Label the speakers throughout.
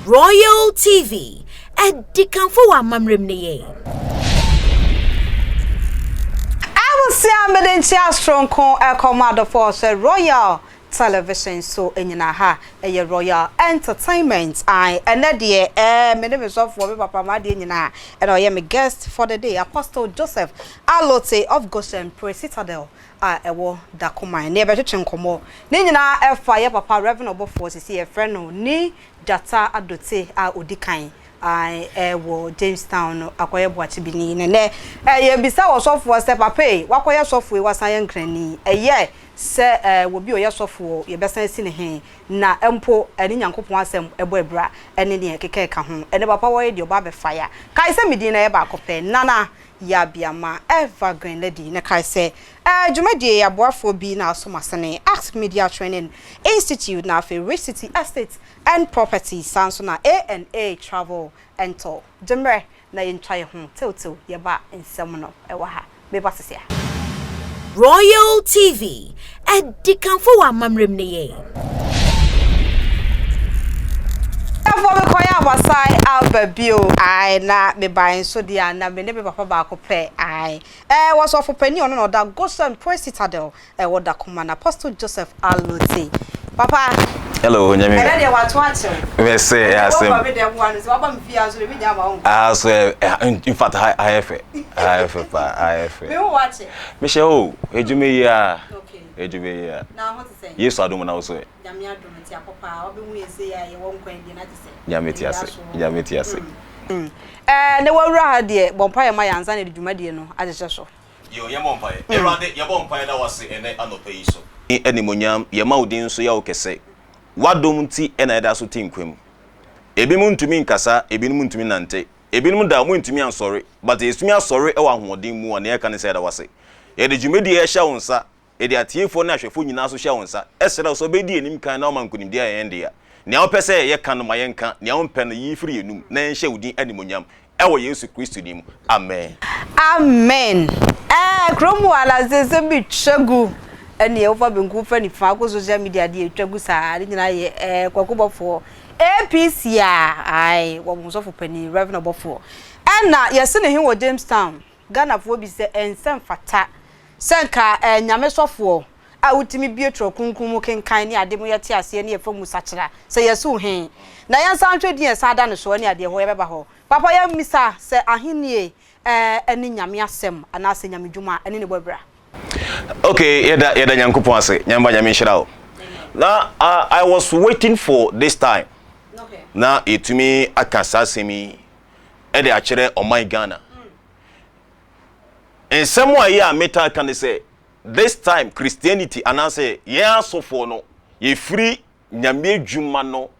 Speaker 1: Royal TV, adikanfo wɔ amammerɛ mu ne yɛn.
Speaker 2: Abusua mede nkyia soronko ɛkɔ mo adɔfoɔ sɛ Royal Television so nyina ha ɛyɛ Royal Entertainment ae ɛnɛ deɛ eh me ne me sɔfoɔ me papa m'adeɛ nyinaa ɛna ɔyɛ me guest for the day Apostle Joseph Alotse of Goshen Praise Citadel a ɛwɔ Dakoman ne yɛbɛtwetwe nkɔmmɔ. Ne nyinaa ɛfa yɛ papa Rev. Ɔbɔfoɔ a seesei yɛfrɛ no Ne Gyata Adote a ɔdi kan a wɔ Jamestown no akɔyɛ Boakyibini ne nnɛ yɛbisaa ɔsɔfoɔ sɛ papa ei wakɔyɛ sɔfoɔ ei wasan ayɛ Nkrani ɛyɛ sɛ wɔ bi ɔyɛ sɔfoɔ yɛbɛsan asi ne he na mpo ne Nyankopɔn asɛm ɛbɔ abira ne deɛ ɛkeka ɛka ho ɛnɛ papa wɔyɛ deɛ ɔba abɛfa yɛ a kae sɛ me din no ɛyɛ baako pɛ Nana Yabea ma Eva Greenlady no kae sɛ, Ɛyɛ dwumadie yi aboafoɔ bi na aso masene, Act Media Training Institute na afei Rich City Estates and Properties saa nso na ANA Travel and Tour. Gye mmerɛ na yɛntwa yɛn ho tew-tew yɛba nsɛm no wɔ ha. Meba sesia. Royal
Speaker 1: TV Adikanfo wɔ amammerɛ mu ne yɛn.
Speaker 2: Ɛfɔ me kɔyɛ a masan aba bio ae na mebae nso deɛ a na me ne me papa baako pɛ ae ɛɛ wɔsɔfo panin ɔno na ɔda Goshen Praise Citadel ɛwɔ Dakoma na Apostle Joseph Alute papa Hello onyame
Speaker 3: ɛnɛ deɛ wato akyew
Speaker 2: mɛsɛ asɛm ɛwɔ me deɛ mmoa no sɛ waba
Speaker 3: me
Speaker 2: fie
Speaker 3: aso deɛ me nya ama wo ah so in fact ha ha yɛ fɛ ha yɛ fɛ paa ha yɛ fɛ me
Speaker 2: wo wakye Mehyɛ o, edwuma
Speaker 3: yi a, edwuma yi a. Na ho te
Speaker 2: sɛn?
Speaker 3: Yesu
Speaker 2: adom na wo so ɛ?
Speaker 3: Nyame adom nti akɔ
Speaker 2: paa, wobɛhu yɛn sei a yɛwɔ nkwa abien agye sɛ. Nyame te
Speaker 3: ase, Nyame te ase. Ɛɛ
Speaker 2: na wawura ha deɛ, bɔ mpaeɛ ma yɛn ansa na yɛde dwumadie no ahyehyɛ so. Yoo yɛn bɔ mpaeɛ.
Speaker 3: Awurade yɛbɔ mpaeɛ da wo ase ɛnɛ anɔpa yi so. Animuonyam, yɛma wo din so yɛ wo kɛse. W'adom nti na yɛda so te nkwa mu. Ebinom ntumi nkasa, ebinom ntumi nnante. Ebinom da a wɔrentumi ansɔre, but yɛtumi asɔre wɔ ahoɔden mu a nea yɛka ne sɛ yɛda wo ase. Yɛde dwumadi a yɛhyɛ wo nsa, yɛde atiefoɔ ne ahwɛfoɔ nyinaa nso hyɛ wo nsa, srɛ wo sɛ wobɛdi yɛn anim kan na woama nkonimdie ayɛ yɛn dea. Nea wopɛ sɛ yɛka no ma yɛnka, nea wompɛ no yi firi yɛn anom na yɛnhyɛ wo din animuonyam, wɔ Yesu Kristo din mu, amen. Amen
Speaker 2: ɛɛ kuro mu a na nsɛnsɛm bi twa gu ɛneɛ wofa benkum fa nifa kɔ social media deɛ ɛtwa gu saa ne nyinaa yɛ ɛɛ kwakubɔfoɔ APC a ae wɔ mo sɔfo panin Rev Ɔbɔfoɔ ɛna yɛse ne he wɔ Jamestown Ghanafoɔ bi sɛ ɛnsɛ mfata sɛ nka ɛɛ Nyame sɔfoɔ a wotumi bue twerɛ kronkron mu kenkan ne ade mu yɛte aseɛ ne yɛfa mu sakyera sɛ yɛse wo he na yɛnsan nhwɛ din a ɛsan da ne soɔ ne adeɛ hɔ yɛbɛba hɔ papa yɛmmisa sɛ ahennie ne Nyame asɛm anaasɛ Nyame dwuma ne ne bɔ abira. Ok
Speaker 3: yɛda yɛda Nyankopɔn ase Nyame ba Nyame nhyira wo na uh, I was waiting for this time na
Speaker 2: yɛtumi
Speaker 3: aka saa asɛm yi ɛde akyerɛ ɔman Ghana nsɛm a yɛ a metaa ka ne sɛ this time Christianity anaasɛ yɛn asɔfoɔ no yɛfiri Nyame edwuma no,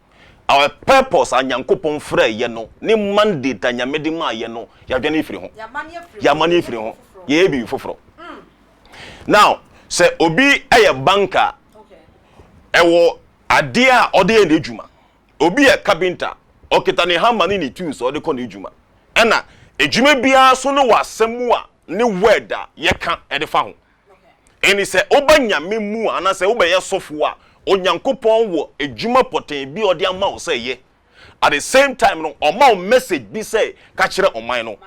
Speaker 3: our purpose a Nyankopɔn frɛɛ yɛn no, ne mandate a Nyame de maa yɛn no, yɛadwane efiri ho. Yɛamane efiri ho. Yɛyɛ biribi foforɔ. Now, sɛ obi yɛ banker a, ɛwɔ adeɛ a ɔde yɛ n'edwuma. Obi yɛ carpenter, ɔkita ne hammer ne ne tools a ɔde kɔ n'edwuma. Ɛna edwuma biara nso no wɔ asɛm a, ne word a yɛka de fa ho. Ɛne sɛ woba Nyame mu a, anaasɛ wobɛyɛ sɔfo a, Onyankopɔn wɔ adwuma pɔtee bi a ɔde ama wo sɛ yɛ. At the same time no, ɔma wo message bi sɛ ka kyerɛ ɔman no.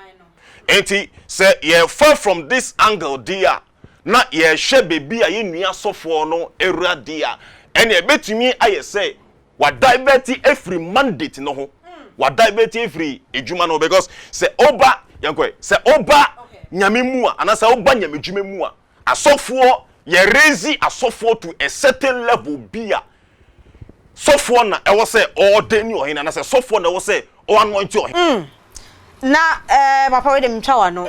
Speaker 3: Enti sɛ yɛfa from this angle deɛ a, na yɛhwɛ baabi a yɛn nua sɔfoɔ no awura deɛ a, ɛneɛ ɛbɛtumi ayɛ sɛ wa divert afiri mandate no ho wa divert afiri adwuma no because sɛ oba yɛnkɔɛ sɛ oba nyame mu a anasɛ oba nyame dwuma mu a asɔfoɔ yɛ raise asɔfoɔ to a certain level bi a sɔfoɔ na ɛwɔ sɛ ɔɔde ne ɔhene anasɛ sɔfoɔ na ɛwɔ sɛ ɔanointi ɔhene. Mm. Na
Speaker 2: eh, papa wei de metwa w'ano.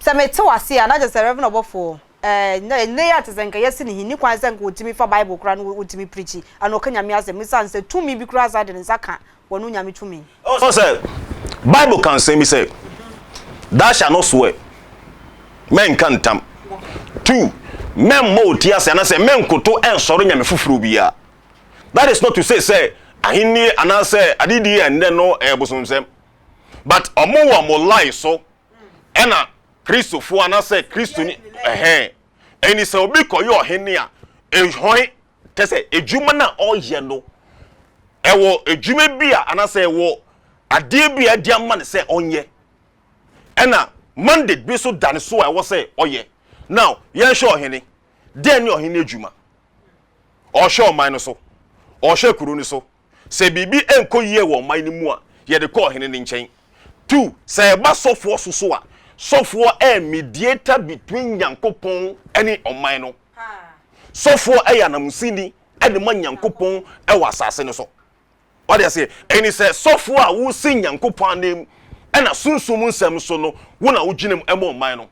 Speaker 2: Sɛ mete w'ase a na kyerɛ sɛ Reverend ɔbɔfoɔ. Ɛɛ, nnɛ yi a te sɛ nka yɛasi no hinni kwan sɛ nka otumi fa Bible koraa na otumi preakyi anaa ɔka Nyame asɛm esiane sɛ tumi bi koraa san de ne nsa ka wɔn onyame tumi. Ɛwɔ sɛ
Speaker 3: Bible ka nsɛm bi sɛ, Thou shalt not swear, mɛnka ntam, two, mɛmmɔ wo ti ase anaasɛ mɛnkoto nsɔre nyame foforɔ biara. That is not to say sɛ ahennie anaasɛ adedie a nnɛ no ɛyɛ bosomsɛm, but wɔn wɔ wɔn line so ɛna Kristofo anaasɛ Kristoni ɛhɛn ɛni sɛ obi kɔyɛ ɔhene a ɛhɔn kyɛ sɛ adwuma no a ɔyɛ no ɛwɔ adwuma bi a anaasɛ ɛwɔ adeɛ bi a ɛde ama no sɛ ɔnyɛ ɛna mandate bi so da ne so a ɛwɔ sɛ ɔyɛ now yɛnhwɛ ɔhene dɛn ne ɔhene adwuma ɔhwɛ ɔman no so ɔhwɛ kuro no so Sɛ biribi nkɔ yie wɔ ɔman no mu a, yɛde kɔ ɔhene no nkyɛn. Two, sɛ ɛba sɔfoɔ so so a, sɔfoɔ yɛ mediator between Nyankopɔn ne ɔman no. Sɔfoɔ yɛ ananmusini de ma Nyankopɔn wɔ asase no so. Wate aseɛ? Ɛne sɛ sɔfoɔ a wosi Nyankopɔn ananmu na sunsum nsɛm so no, wo na wogyina mu ma ɔman no.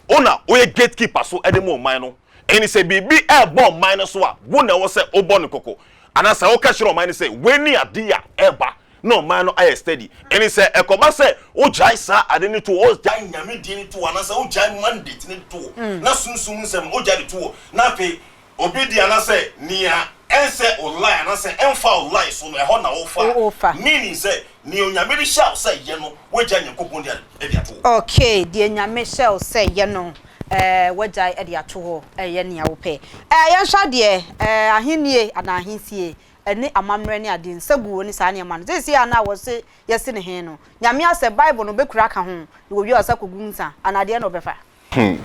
Speaker 3: Wo na woyɛ gate keeper so de ma ɔman no. Ɛnti sɛ biribi ɛɛbɔ ɔman no so a, wo na ɛwɔ sɛ wobɔ no kɔkɔ. Anaa sɛ woka kyerɛ ɔman no sɛ wei ne adeɛ a ɛɛba na ɔman no ayɛ steady. Ɛnti sɛ ɛkɔba sɛ wogyae saa ade no to hɔ, wogyae Nyame din no to hɔ, anaasɛ wogyae mandate no to hɔ, na sunsum nsɛm no wogyae de to hɔ, na afei Obi de anasɛ nea ɛnsɛ ollae anasɛ ɛmfa ollae so no ɛhɔ na wofa, meaning sɛ nea Onyame de hyɛɛ wo sɛ yɛ no wagyae Nyankopɔn de ade ato hɔ. Ok, deɛ Nyame
Speaker 2: hyɛɛ wo sɛ yɛ no eh wagyae de ato hɔ eh yɛ nea wopɛ eh yɛnhwɛ adeɛ eh ahennie anaa ahensie ɛne amammerɛ ne adeɛ nsaguo ne saa nneɛma no seesei a na wɔse yɛse ne he no Nyame asɛ Bible no bɛkura aka ho na wɔwie a ɔsa kɔgu nsa anaa deɛn na ɔbɛfa? Hmm.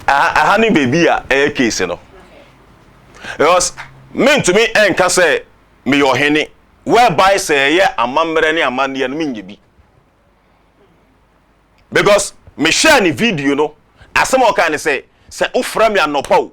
Speaker 2: Aha,
Speaker 3: aha ne baabi a ɛyɛ case no. Because mentumi nka sɛ meyɛ ɔhene whereby sɛ ɛyɛ amammerɛ ne amanneɛ no menyɛ bi. Because mehwɛɛ ne video no, asɛm a ɔkae ne sɛ, sɛ wofrɛ me anɔpa o,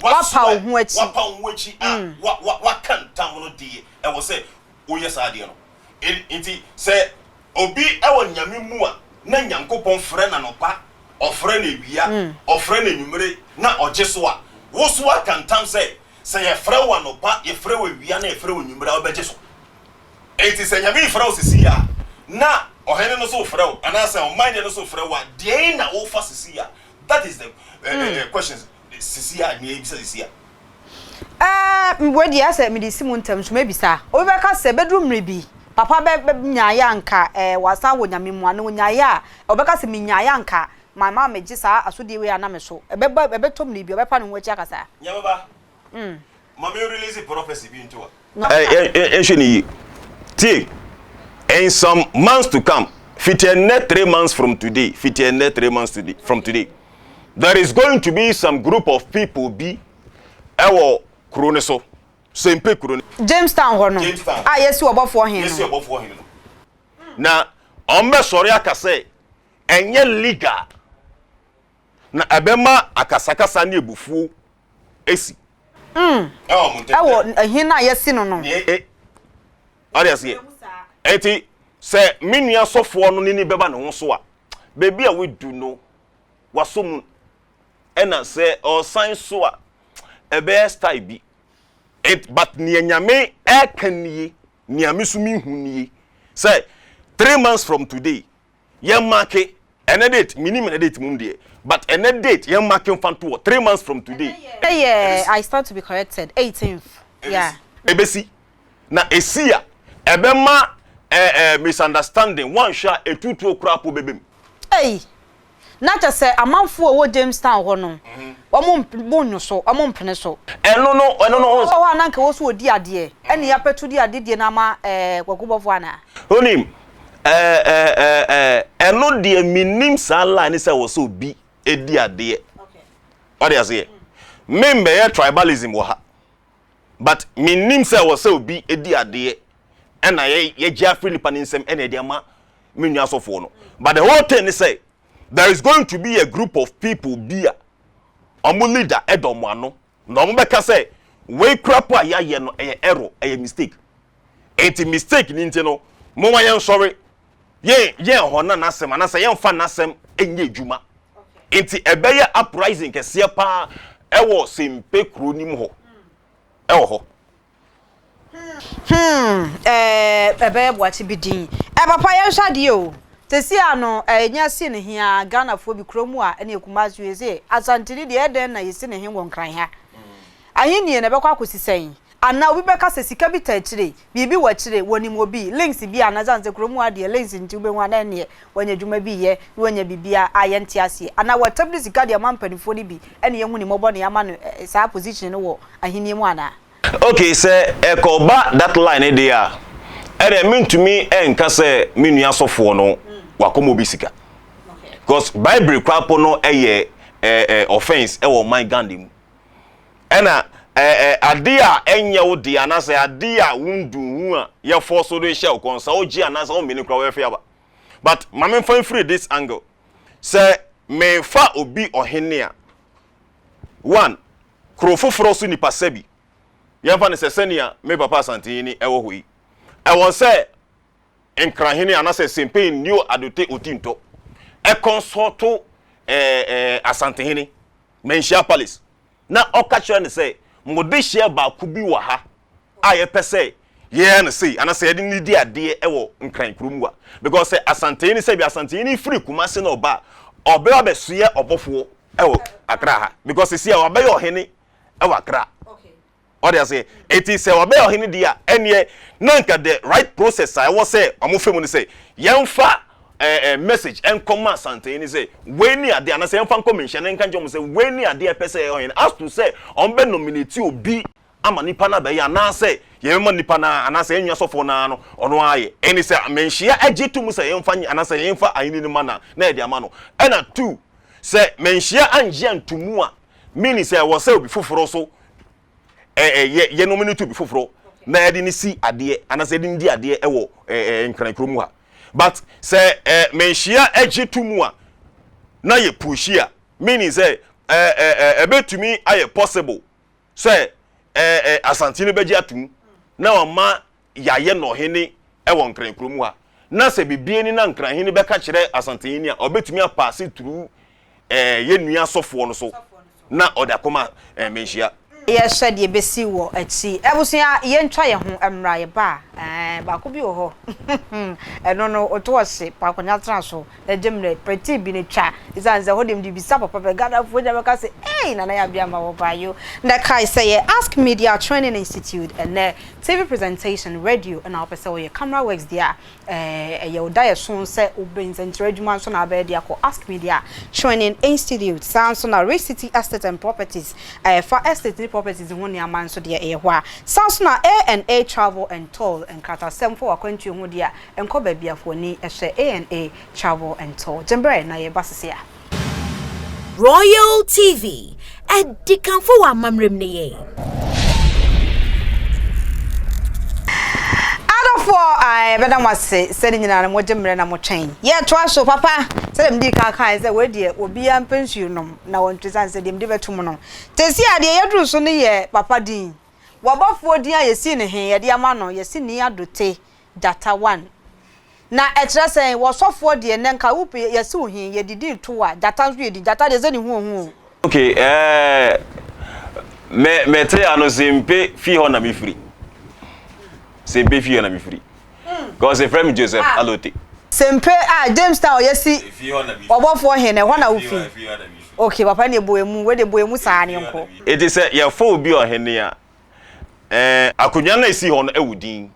Speaker 3: Woapa wo ho
Speaker 2: akyi. Woapa wo ho akyi
Speaker 3: a, woaka ntam no deɛ ɛwɔ sɛ woyɛ saa adeɛ no. Enti sɛ obi wɔ Nyame mu a, na Nyankopɔn frɛ no anɔpa, ɔfrɛ no awia, ɔfrɛ no anwummere, na ɔgye so a, wo so woaka ntam sɛ, sɛ yɛfrɛ wo anɔpa, yɛfrɛ wo awia, na yɛfrɛ wo anwummere a, wobɛgye so. Enti sɛ Nyame refrɛ wo sesei a, na ɔhene no nso refrɛ wo, anaasɛ ɔman deɛ no nso refrɛ wo a, deɛn na wofa sesei a? That is the uh, uh, questions. Sisi a nea ebisa sisi a. Ɛɛ, meboa
Speaker 2: di a sɛ mede si mo ntam nso mɛbisa. Obi bɛka sɛ, bɛduru mmere bi, papa bɛ, bɛ, nyaeɛ a nka ɛɛ wasan wɔ Nyame mu anaa ɔnyaeɛ a, ɔbɛka sɛ menyaeɛ a nka ma, ma megye saa asodie wei a na me so. Ɛbɛba, ɛbɛtɔ mmere bi a ɔbɛpa ne ho akyi aka saa. Nyame ba,
Speaker 3: Ma me release prophecy bi nto a. Yɛnhwɛ no yie. Tie! In some months to come, fiti ɛnnɛ three months from today, fiti ɛnnɛ three months today, from today, there is going to be some group of people bi ɛwɔ kuro no so, Sempe kuro no. Jamestown hɔ no,
Speaker 2: a yɛasi ɔbɔfoɔ hene no. Yɛasi ɔbɔfoɔ
Speaker 3: hene no. Na wɔbɛsɔre aka sɛ ɛnyɛ legal, na ɛbɛma akasakasa ne abufuo si.
Speaker 2: Ɛwɔ ɛhe no a yɛasi no no.
Speaker 3: Ɔde aseɛ. Ɛti sɛ me nua sɔfoɔ no n'ani bɛba ne ho so a, baabi a wadu no, wasɔ mu. Ɛna sɛ ɔresan so a, ɛbɛyɛ style bi. It but nea Nyame ɛɛka nie, nea me nso mehu nie sɛ three months from today, yɛn make ɛnɛ date minim ɛnɛ date mum deɛ but ɛnɛ date yɛn make nfa to wɔ three months from today. ɛyɛ i stand
Speaker 2: to be corrected eighteenth yeah. ebesi
Speaker 3: na esi a ɛbɛma ɛɛ eh, eh, misunderstanding wɔnhwɛ a etutuo koraa po bɛbɛm. eyi
Speaker 2: na kyɛ sɛ amanfo a wɔwɔ jamestown hɔ no mhm. wɔn mo nyo so wɔn mpene so. ɛno no ɛno no.
Speaker 3: ɔwɔ hɔ a nanka wɔ so wɔ
Speaker 2: di adeɛ ɛne apɛtu di adeɛ die na ama ɛɛ eh, wɔgobɔfo ana. onim.
Speaker 3: Eh eh eh eh ɛno deɛ menim saa line ne sɛ wɔ sɛ obi ɛdi adeɛ wade aseɛ mem bɛyɛ tribalism wɔ ha but menim sɛ wɔ sɛ obi ɛdi adeɛ ɛna yɛgye afiri nipa ne nsɛm ɛna ɛde ama me nua asɔfoɔ no but the whole thing ne sɛ there is going to be a group of people bi a ɔmo leader ɛdɔ ɔmo ano na ɔmo bɛka sɛ wei kura po a yɛayɛ no ɛyɛ error ɛyɛ mistake Enti mistake ni nti no, momma yɛnsɔre, yɛn, yɛn hɔ na n'asɛm, anaasɛ yɛmfa n'asɛm nyɛ adwuma. Enti ɛbɛyɛ uprising kɛseɛ paa ɛwɔ Sempe kuro nim hɔ, ɛwɔ hɔ. Hmm,
Speaker 2: eh, ɛbɛyɛ boakye bi din. Eh, papa yɛnhwɛ adeɛ o. Sɛsi a no, eh, yɛnya si no he aa, Ghanafoɔ bi, kuro mu a, ɛne yɛ Kumasi, yɛse Asanteni deɛ, ɛdɛn na yɛsi no he wɔ Nkran ha? Ahennie no ɛbɛkɔ akɔsi sɛn? Anaa obi bɛka sɛ sika bi ta akyire, biribi wɔ akyire, wɔnim obi, links bi anaa ɛsiane sɛ kurom ha deɛ links nti wobɛhu a na ɛnneɛ wanya adwuma bi yɛ na wanya biribiara a yɛnte aseɛ anaa wɔtam de sika de ama mpanimfoɔ no bi ɛne yɛhu ne mmɔbɔ na yɛama no saa position no wɔ ahennie mu anaa. Ok sɛ
Speaker 3: ɛkɔba that line no deɛ a ɛnneɛ mentumi nka sɛ me nua sɔfoɔ no wakɔma obi sika cause baibri koraa po no yɛ offense wɔ ɔman Ghana mu. Ɛna ɛ ɛ ade a ɛnyɛ wo dea anaasɛ ade a wonduu ho a yɛfɔɔ so de hyɛ wo kɔn sɛ wogye anaasɛ womene koraa wɛfe aba. But ma memfa mfiri this angle. Sɛ mefa obi ɔhene a, one, kuro foforɔ so nipa sɛbi yɛmfa no sɛ sɛnea me papa Asantehene ɛwɔ hɔ yi, ɛwɔ sɛ Nkrahene anaasɛ Sempen Neo Adote Otintɔ ɛkɔnsɔɔto ɛ ɛ Asantehene. Manhyia Apelles, na ɔka kyerɛɛ no sɛ, Mewɔ dehyeɛ baako bi wɔ ha a yɛpɛ sɛ yɛyɛ no sei, anaasɛ yɛde no di adeɛ wɔ Nkran kuro mu a. Because sɛ Asantehene, sɛbi Asantehene firi Kumasi na ɔba a, ɔbɛ abɛsoɛ ɔbɔfoɔ wɔ Accra ha. Because seesei a wabɛyɛ ɔhene wɔ Accra. Ɔde aseɛ eti sɛ ɔbɛyɛ ɔhene deɛ a ɛneɛ na nka the right process a ɛwɔ sɛ ɔmo fɛ mu ne sɛ yɛnfa ɛɛ ɛɛ message ɛnkɔ ma Asantehene ne sɛ wei ne adeɛ anaa sɛ yɛnfa nkɔ menhyɛn ɛnka nkyerɛ ɔmo sɛ wei ne adeɛ a ɛpɛ sɛ ɛyɛ ɔhene as to sɛ ɔmo bɛ nominate obi ama nipa no abɛyɛ anaa sɛ yɛbɛma nipa no ara anaa sɛ yɛn nua sɔfoɔ no ara no ɔno ara ayɛ ɛne sɛ menhyea ɛgye to mu sɛ yɛnfa nyɛ anaa sɛ yɛnfa ahenni no ma no a na yɛde ama no ɛna two sɛ menhyea angye anto mu a Meaning sɛ wɔ sɛ obi foforo so ɛ ɛ yɛ yɛ nom no to obi foforo na yɛde no si adeɛ anaasɛ yɛde no di adeɛ ɛwɔ ɛ ɛ nkran kuro mu ha but sɛ ɛ menhyia ɛgye to mu a na yɛ pushi a meaning sɛ ɛ ɛ ɛ ɛbɛtumi ayɛ possible sɛ ɛ ɛ asante no bɛgye ato mu na wama yɛayɛ no ɔhene wɔ Nkran kurom ha, na sɛ biribi ani na Nkran hene bɛka kyerɛ Asantehene a, ɔbɛtumi apaase turu ɛɛ yɛn nua sɔfoɔ no so na ɔde akɔma ɛɛ Manhyia. Yɛhwɛ deɛ
Speaker 2: ɛbɛsi wɔ akyi. Abusua, yɛntwa yɛn ho mmra, yɛba a, ɛɛ baako bi wɔ hɔ, ɛno no, ɔtɔ ɔhye, Paakonnwa tena so. Agye mmerɛ pɛtee bi no twa ɛsiane sɛ hɔ deɛ mede bisa papa pɛ Ghanafoɔ nyinaa bɛka sɛ eii Nana Yaw Aduama wɔbaa yoo na kae sɛ yɛ Ask Media Training Institute ɛnnɛ TV presentation radio na wopɛ sɛ woyɛ camera works deɛ a ɛyɛ wo da yɛ so sɛ wobɛ nsɛnkyerɛ adwuma nso na abɛyɛ deɛ a kɔ Ask Media Training Institute saa nso na Rich City Estate and Properties a ɛfa estate ne properties ho nneɛma nso deɛ ɛyɛ hɔ a saa nso na A&A Travel and Tour nkratasɛm fa w'akwantuo ho deɛ a Nkɔ baabi a w'ani hyɛ ANA Travel and Tour. Gye mbrɛ na yɛba sese a. Royal
Speaker 1: TV, ɛdi kanfo wɔ amammerɛ mu ne yɛn.
Speaker 2: Adɔfoɔ a yɛbɛda mo ase sɛ ne nyinaa no mogye mmerɛ na motwɛn. Yɛtoa so papa sɛ deɛ medi kan kae sɛ wei deɛ obiara mpɛ nsuo nom na wɔntwe sane sɛ deɛ mede bɛto mu no. Tesi a deɛ yɛduru so no yɛ papa din. Wabɔfoɔ din a yɛsii no he yɛde ama no Yɛsini Adote Gyata one. Na ɛkyerɛ sɛn? Wɔ sɔfoɔ deɛ nɛ nka wo pɛ yɛse wo he yɛde din to wo a gyata nso yɛ din gyata deɛ sɛ ne ho ohu o. Ok eeh
Speaker 3: me me te ano sempe fie hɔ na me firi sempe fie hɔ na me firi cause efrɛ me Joseph Alote. Sempe ah
Speaker 2: James town yɛ si ɔbɔfoɔ he no ɛhɔ na wo firi ok papa neɛ bɔ emu wei deɛ bɔ emu saa ne nkɔ. Eti sɛ yɛfa
Speaker 3: obi ɔhene a Ɛɛ akonnwa no a esi hɔ no ɛwɔ din.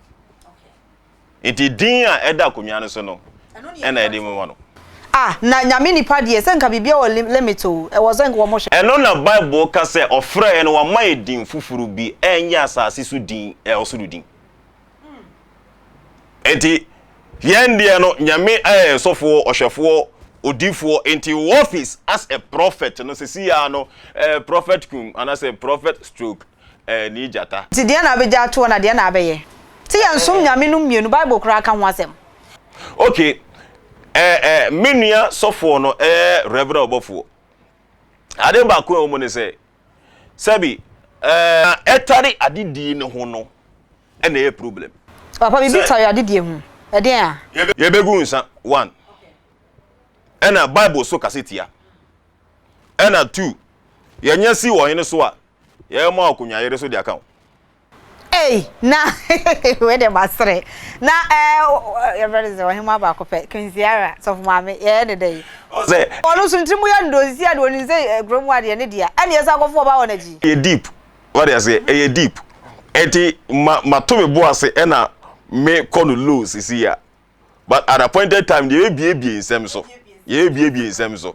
Speaker 3: Nti din a ɛda akonnwa no so no ɛna yɛde ma no. Ah, na Nyame
Speaker 2: nipa deɛ, sɛ nka biribiara wɔ limit o, ɛwɔ sɛ nka wɔn hwɛ. Ɛno na Bible ka
Speaker 3: sɛ ɔfrɛɛ yɛn na wama yɛn din foforo bi, ɛnyɛ asase so din, ɛyɛ ɔsoro din. Enti yɛn deɛ no Nyame ɛyɛ sofoɔ, ɔhwɛfoɔ, odifoɔ, enti wo office as a prophet no sesii ara no ɛyɛ prophet kum anasɛ prophet stroke ɛɛni gyata. Nti deɛ na abɛgya atoɔ
Speaker 2: na deɛ na abɛyɛ? Se yɛn som Nyame nom mmienu, bible koraa ka ho asɛm. Ok
Speaker 3: eh eh me nua sɔfoɔ no ɛyɛ Reverend ɔbɔfoɔ, adeɛ baako a ɛwɔ mu ne sɛ, sɛbi ɛɛ ɛtare adedie no ho no ɛna ɛyɛ problem. Papa biribi Sɛ- tare
Speaker 2: adedie ho ɛdeɛn a? Yɛbɛgu nsa
Speaker 3: one ɛna bible so kasa tia ɛna two yɛnyɛ si ɔhene so a yɛbɛma wo akonwa yere so de aka wo. Ei
Speaker 2: na wei deɛ masere na ɛɛ yɛfrɛ no sɛ ɔhema baako pɛ kinsiara sɔfo maame yɛyɛ ne dɛ yi ɔsɛ ɔno
Speaker 3: so ntiri mu yɛ
Speaker 2: ndonsi a deɛ ɔnim sɛ kuro mu adeɛ ne deɛ ɛne yɛsɛ akɔfo ɔba wɔ n'akyi ɛyɛ deep wade
Speaker 3: aseɛ ɛyɛ deep ɛti ma mato me bo ase ɛna me kɔ no low sisi ya but at appointed time deɛ yɛbɛbiebie nsɛm so yɛbɛbiebie nsɛm so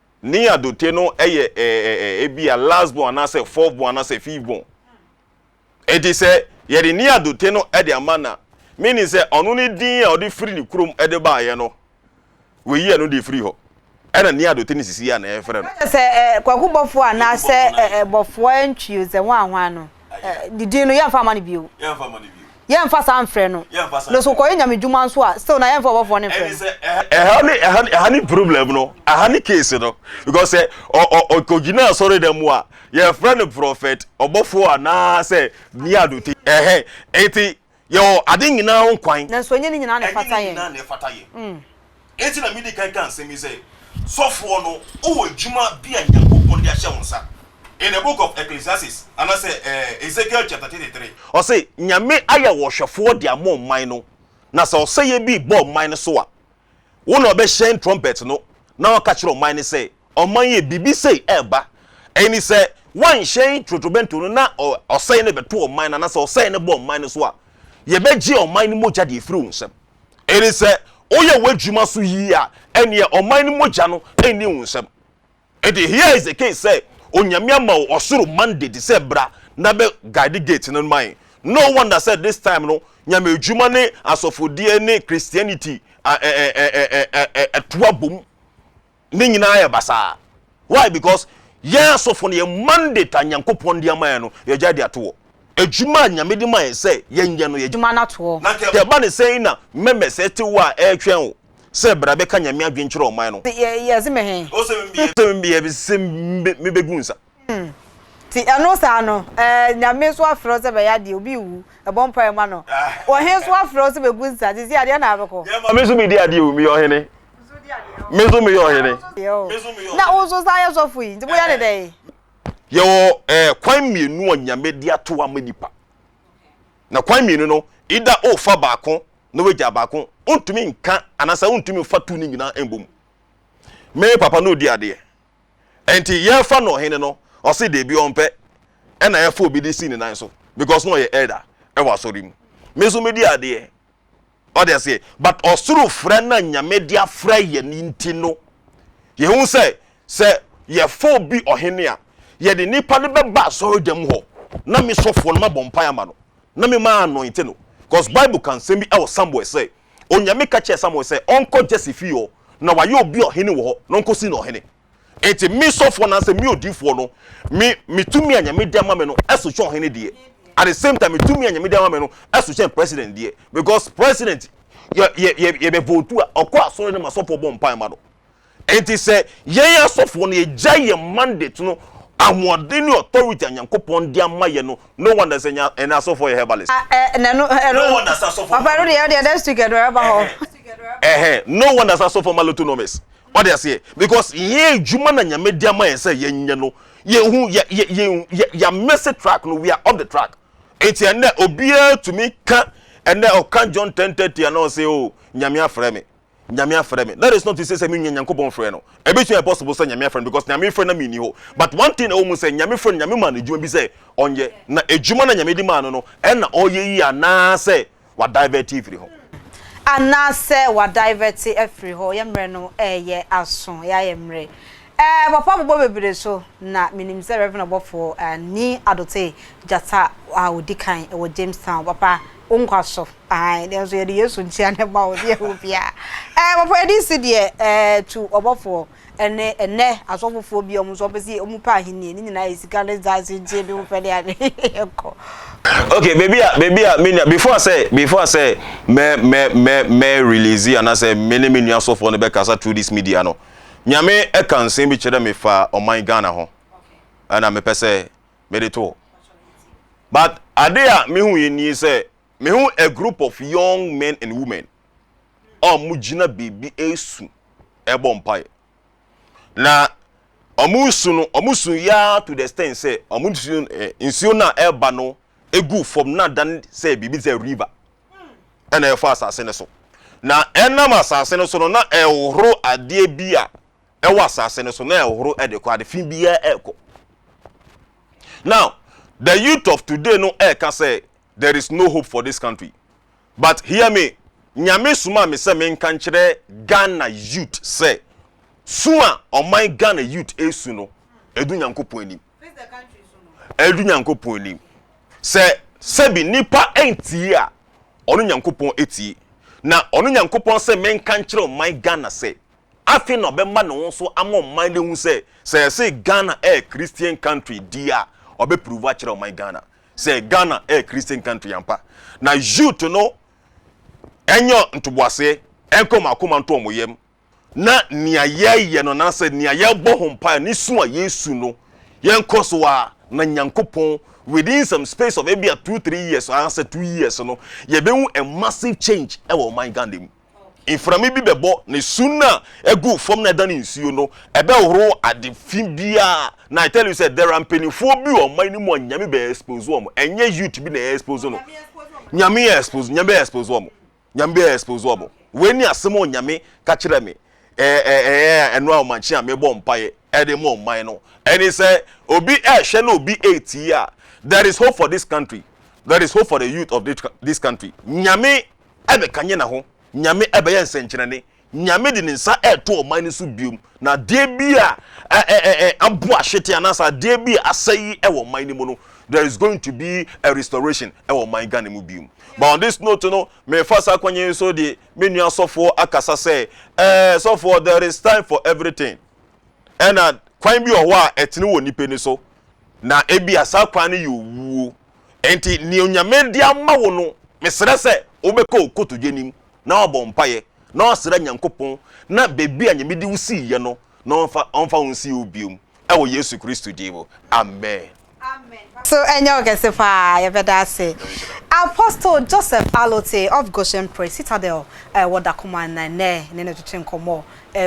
Speaker 3: Ne adote no yɛ ɛɛ ebia last born anaasɛ fourth born anaasɛ fifth born. Eti sɛ yɛde ne adote no de ama na meaning sɛ ɔno ne din a ɔde firi ne kurom de baeɛ no, wɔyi ɛno de firi hɔ. Ɛna ne adote no sisi a na yɛfrɛ no. Sɛ sɛ ɛɛ kwakubɔfoɔ
Speaker 2: anaasɛ ɛɛ bɔfoɔ ntwi ozɛ hwan hwan no. ne din no yɛmfa ma no bio yɛmfa saa mfrɛ no no so kɔyɛ nyame dwuma nso a still na yɛmfa ɔbɔfoɔ no mfrɛ no ɛha ne ɛha ne ɛha ne problem
Speaker 3: no ɛha ne case no because sɛ ɔkɔgyina asɔre dɛm mu a yɛfrɛ no prɔfɛt ɔbɔfoɔ anaa sɛ mia dote ɛhɛ eti Yɛwɔ ade nyinaa ho kwan. Nanso ɛnyɛ ne nyinaa na ɛfata
Speaker 2: yɛn. Ɛnyɛ ne nyinaa na ɛfata yɛn.
Speaker 3: Enti na midi kan ka nsɛm yi sɛ, Sɔfoɔ no, wowɔ adwuma bi a Nyankopɔn de ahyɛ wo nsa. In the book of Ecclesiastes, anaasɛ Ezekiel chapter thirty three, ɔse, Nyame ayɛ wo ɔhwɛfoɔ de ama ɔman no, na sɛ ɔsɛeɛ bi rebɔ ɔman no so a, Wo na ɔbɛhyɛn trumpet no na waka akyerɛ ɔman no sɛ, 'Ɔman yi a biribi sei reba, ɛyi ne sɛ, woanhyɛn totorobɛnto no na ɔsɛe no bɛto ɔman no anaasɛ ɔsɛe no ba ɔman no so a, yɛbɛgye ɔman no mogya de afiri wo nsam. Ɛne sɛ, woyɛ w'adwuma so yie a, ɛnneɛ ɔman no mogya no nni wo nsam. Enti hia is the case sɛ Onyame ama wo ɔsoro mandate sɛ bra na bɛ guide gate no ma yɛn. No wonder sɛ this time no Nyame adwuma ne asɔfodie ne Christianity ɛtoa bom ne nyinaa yɛ basaa. Why? Because yɛn asɔfo no yɛn mandate a Nyankopɔn de ama yɛn no yɛgyae de ato hɔ. Adwuma a Nyame de ma yɛn sɛ yɛnyɛ no yɛgyae. Adwuma no ato hɔ. Na nka
Speaker 2: ɛba ne sɛn
Speaker 3: na mɛmɛ sɛ te wo a ɛretwɛn wo. sɛ bra bɛka Nyame adwen kyerɛ ɔman no. Nti yɛse me he?
Speaker 2: Ose me bia
Speaker 3: bese sɛ me bɛ gu nsa. Hmm nti
Speaker 2: ɛno saa no eh Nyame so afrɛ wo sɛ bɛyɛ adeɛ obi rewu ɛbɔ mpaeɛ ma no ɔhe so afrɛ wo sɛ bɛ gu nsa sisi adeɛ na abɛkɔ. Deɛ ma me nso me di adeɛ
Speaker 3: o meyɛ ɔhene me nso meyɛ ɔhene. Na wo
Speaker 2: nso saa yɛ sɔfo yi nti mo yɛ ne dɛn. Yɛwɔ
Speaker 3: eh kwan mmienu a Nyame de ato ama nipa. Na kwan mmienu no, either wofa baako na woagyaa baako, wontumi nka anaasɛ wontumi mfa tu no nyinaa mmɔ mu. Me papa no redi adeɛ, ɛnti yɛrefa no ɔhene no, ɔse deebi ɔmpɛ, ɛna yɛfa obi de si ne nan so because na ɔyɛ elder wɔ asɔre mu. Me nso medi adeɛ, Ɔte aseɛ? But ɔsoro frɛ no a Nyame de afrɛ yɛn no nti no, yɛhu sɛ, sɛ yɛfa obi ɔhene a, yɛde nipa no bɛba asɔredwam hɔ, na me sɔfoɔ no mabɔ mpaeɛ ama no, na me ma anointe no. Cause Bible ka nsɛm bi wɔ Samuel sɛ, Onyame ka kyerɛɛ Samuel sɛ ɔnkɔ Jesse fie hɔ, na wayɛ obi ɔhene wɔ hɔ, na ɔnkɔsi no ɔhene. Enti me sɔfoɔ anaasɛ me odiyifoɔ no, me me tumi a Nyame de ama me no so kyɛn ɔhene deɛ. At the same time, me tumi a Nyame de ama me no so kyɛn president deɛ because president yɛ yɛ yɛ yɛbɛ votu a ɔkɔ asɔre na m'asɔfoɔ bɔ mpaeɛ ma no. Enti sɛ yɛn asɔfoɔ no yɛgyae yɛn mandate no ahoɔden ne authority a Nyankopɔn de ama yɛn no, no wonder sɛ yɛn yɛn asɔfoɔ yɛ herbalist. No wonder sɛ asɔfoɔ
Speaker 2: ma loto. Ɛhɛn, no
Speaker 3: wonder sɛ asɔfoɔ ma lotonomist. Wate aseɛ? Because yɛn adwuma na Nyame de ama yɛn sɛ yɛnyɛ no. Yɛnhu, yɛ, yɛ, yɛn, yɛ, yɛamese track no, we are off the track. Enti ɛnnɛ, obiara tumi ka, ɛnnɛ ɔka John 10:30 a na ɔse, Oh, Nyame afrɛ me. Nyame afrɛ me. That is not to say sɛ mennya Nyankopɔn frɛ no. Ɛbɛtumi ayɛ possible sɛ Nyame afrɛ no because Nyame frɛ na menni hɔ. But one thing a ɛwɔ mu sɛ, Nyame frɛ no, Nyame maa no adwuma bi sɛ ɔnyɛ. Na adwuma no a Nyame de maa no no, ɛna ɔyɛ yie anaasɛ wa divert firi hɔ.
Speaker 2: Anaasɛ wa divert afiri hɔ, yɛ mmerɛ no ɛɛyɛ aso, ɛyɛ ayɛ mmerɛ. Ɛɛ papa bobɔ bebree so na me nim sɛ Rev ɔbɔfoɔ Ani Adotey Gyata a ɔdi kan wɔ Jamestown papa wo nkwa so ae deɛ nso yɛde Yesu nkyea na ɛma wo deɛ ɛwɔ biara ɛɛ papa yɛde nsi deɛ ɛɛ to ɔbɔfoɔ Ɛne ɛnɛ asɔfofoɔ bi a wɔn nso wɔpɛ sɛ wɔn pɛ ahennie ne nyinaa yɛ sika ne dance nkyɛn bi wɔpɛ ne ade ɛkɔ. Okay
Speaker 3: baby a baby a me nua before sɛ before sɛ mɛ mɛ mɛ mɛ release anasɛ me ne me nua sɔfoɔ no bɛkasa through this media no nyame ɛka nsɛm bi kyerɛ me fa ɔman Ghana ho ɛna mepɛ sɛ mede to but ade a mehu yɛ nie sɛ mehu a group of young men and women a wɔgyina baabi resu rebɔ mpaeɛ. Na wɔresu no, wɔsu yɛ ara to the extent sɛ wɔn nsuo no eh, nsuo no a ɛreba no gu fam na adan sɛ biribi te sɛ river ɛna ɛfa asase no so. Na ɛnam asase no so no na ɛhohoro adeɛ bi a ɛwɔ asase no so na ɛhohoro ɛde kɔ ade fi biara ɛrekɔ. Now the youth of today no ɛreka sɛ there is no hope for this country. But hear me, Nyame somaa me sɛ menka nkyerɛ Ghana youth sɛ, su a ɔman Ghana youth ɛresu no, ɛdu Nyankopɔn anim. Ɛdu Nyankopɔn anim. Sɛ sɛbi nipa ɛntie a, ɔno Nyankopɔn ɛtie. Na ɔno Nyankopɔn sɛ menka nkyerɛ ɔman Ghana sɛ, afei na ɔbɛma ne ho so ama ɔman no ahu sɛ, sɛ yɛse Ghana ɛyɛ Christian country deɛ a, ɔbɛ prove akyerɛ ɔman Ghana. sɛ ghana ɛyɛ christian country ampa na youth no ɛnyɛ ntoboaseɛ ɛnkɔ wɔn akoma nto wɔn yam na nea yɛyɛ no nasɛ nea yɛbɔ ho mpaeɛ ne su a yɛsu no yɛnkɔ so a na nyankopɔn within some space of ebi a two three years anaasɛ two years no yɛbɛhu a massive change ɛwɔ ɔman ghana mu Mframa bi bɛbɔ, na su no a ɛgu fam na ɛdane nsuo no, ɛbɛhohoro ade fi biara. Na I tell you sɛ, there are mpanimfoɔ bi wɔ ɔman no mu a Nyame bɛ expose wɔn. Ɛnyɛ youth bi na ɛyɛ expose no. Nyame yɛ expose, Nyame bɛ expose wɔn. Nyame bɛ expose wɔn. Wei ni asɛm a Nyame ka kyerɛ me. Ɛɛ ɛɛ ɛɛ ɛno a ɔmankye a mebɔ mpaeɛ ɛde ma ɔman no. Ɛne sɛ, obi ɛɛhwɛ na obi ɛɛtie a, there is hope for this country. There is hope for the youth of this country. Nyame. ɛbɛkanyan naho, Nyame ɛbɛyɛ nsɛnkyerɛnne, Nyame de ne nsa ɛɛto ɔman no so biom, na adeɛ bi a ɛɛɛɛ abo ahwete anaasɛ adeɛ bi a asɛe ɛwɔ ɔman no mu no, there is going to be a restoration ɛwɔ ɔman Ghana mu biom. But on this note no, mefa saa kwan yi so de me nua sɔfoɔ akasa sɛ, ɛɛ sɔfoɔ there is time for everything, ɛna kwan bi wɔ hɔ a ɛtene wɔ nnipa ani so, na ebia saa kwan no yɛ owuo. Enti nea Onyame de ama wo no, mesrɛ sɛ wobɛkɔ wo kotodwe anim na woabɔ mpaeɛ na woasrɛ Nyankopɔn na baabi a Nyame de wo siiɛ no na ɔmfa ɔmfa wo nsi wo biom wɔ Yesu Kristo din mu. Amen. Amen paso
Speaker 2: ɛnyɛ wo kɛse paa yɛbɛda ase Apostle Joseph Alotse of Goshen Praise Citadel wɔ Dakoma na ɛnnɛ ne no twetwe nkɔmmɔ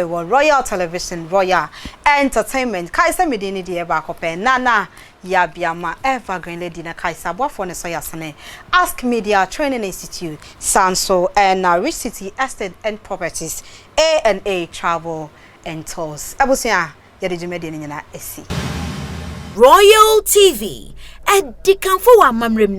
Speaker 2: wɔ Royal Television Royal Entertainment kae sɛ me din ne deɛ baako pɛ Nana Yabea ma Evergreen Lady na kae sɛ aboafoɔ no sɔ yɛ asene, Ask Media Training Institute, saa nso na Rich City Estate and Properties, A and A Travel and Tours. Abusua, yɛde dwumadie no nyinaa asi. Royal
Speaker 1: TV, ɛdikanfo wɔ amammerɛ mu ne.